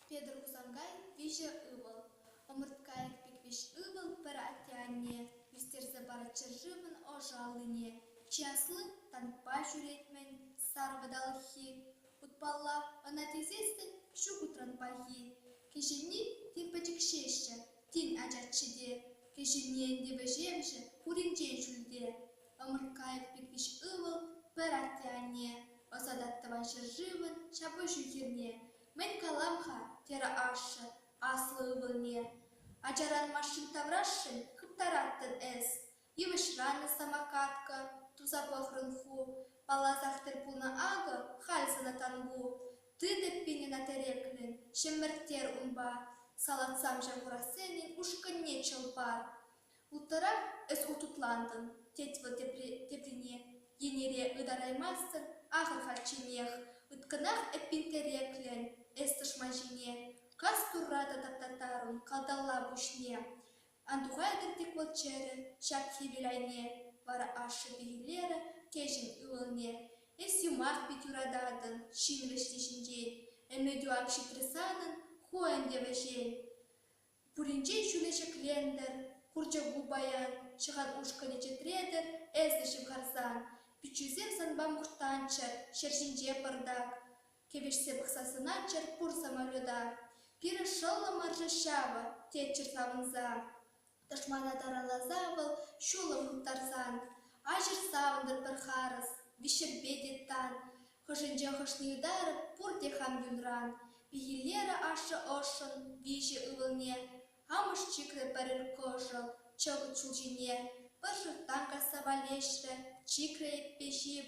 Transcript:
Петӗр Хусанкай виҫӗ ывӑл. Ӑмӑрткайӑк Пиквиҫ ывӑл пӗр атте-анне ӳстерсе парать ҫӗршывӑн ӑшӑ аллине. Чи асли танкпа ҫӳрет-мӗн, сар вӑталӑххи. Утпалла ӑна тивсессӗн ҫук утран пахи. Кӗҫӗнни тем пӗчӗкҫеҫҫӗ, Тен, ачаччӗ те, кӗҫӗнни ӗнтӗ вӗҫевҫӗ, пуринчен ҫӳлте. Ӑмӑрткаев пиркӗч ывӑл, пӗр атте-анне, ӑсатать тӑван ҫӗршывӑн ҫапӑҫу хирне. «Мӗн калам-ха?» терӗ ашшӗ аслӑ ывӑлне. «Ачаран машин таврашшӗн хыптараттӑн эс. Йывӑҫранӑ самокатка, туса пӑхрӑн ху, палласах тӗл пулнӑ акӑ халь сана Тангу. Тытӑппин ӑна тӗреклӗн, ҫӗмӗрттер унпа, салатсам ҫав Хурахсенӗн ушкӑнне чӑлпа. Уттарах эс хутутлантӑн, тет вӑл теприне, йӗнере ытараймастӑн ахӑр-хальчченех, ыткӑнах эппин тӗреклӗн, эс тӑшман ҫине. Кас турра та таптаттарун калталла пуҫне. Антухай кӑртиклӑ чӗрӗ ҫак хӗвел айне, вара ашшӗпе Илера кӗҫӗн ывӑлне, Эс юмах пек юрататӑн ҫын вӗҫни ҫинчен, ӗмӗтӳ ак ҫитрӗ санӑн, ху ӗнтӗ вӗҫен. Пуринчен ҫӳле ҫӗклентӗр, хурчӑку паян, ҫӑхан ушкӑнӗ чӗтретӗр эсӗ ҫывхарсан, пиччӳсем санпа мухтанччӑр ҫӗр ҫинче пӑртак. Кӗвӗҫсе пӑхса сӑнатчӑр пур самолета. Пирӗн шӑллӑмӑршӑ ҫавӑ, тетчӗр савӑнса. Тӑшмана тараласа вӑл ҫулӑм хыптарсан. Аҫӑр савӑнтӑр пӗр харӑс, виҫшерпе те тан. Хӑшӗнче хӑшне ытарӑп пурте хам юнран. Пехиллерӗ ашшӗ ӑшшӑн виҫӗ ывӑлне. Амӑш чикрӗ пӗрер кӑшӑл чӑкӑт ҫул ҫине. Пӗр шӑрттан касса валеҫрӗ, чикрӗ еппе ҫип.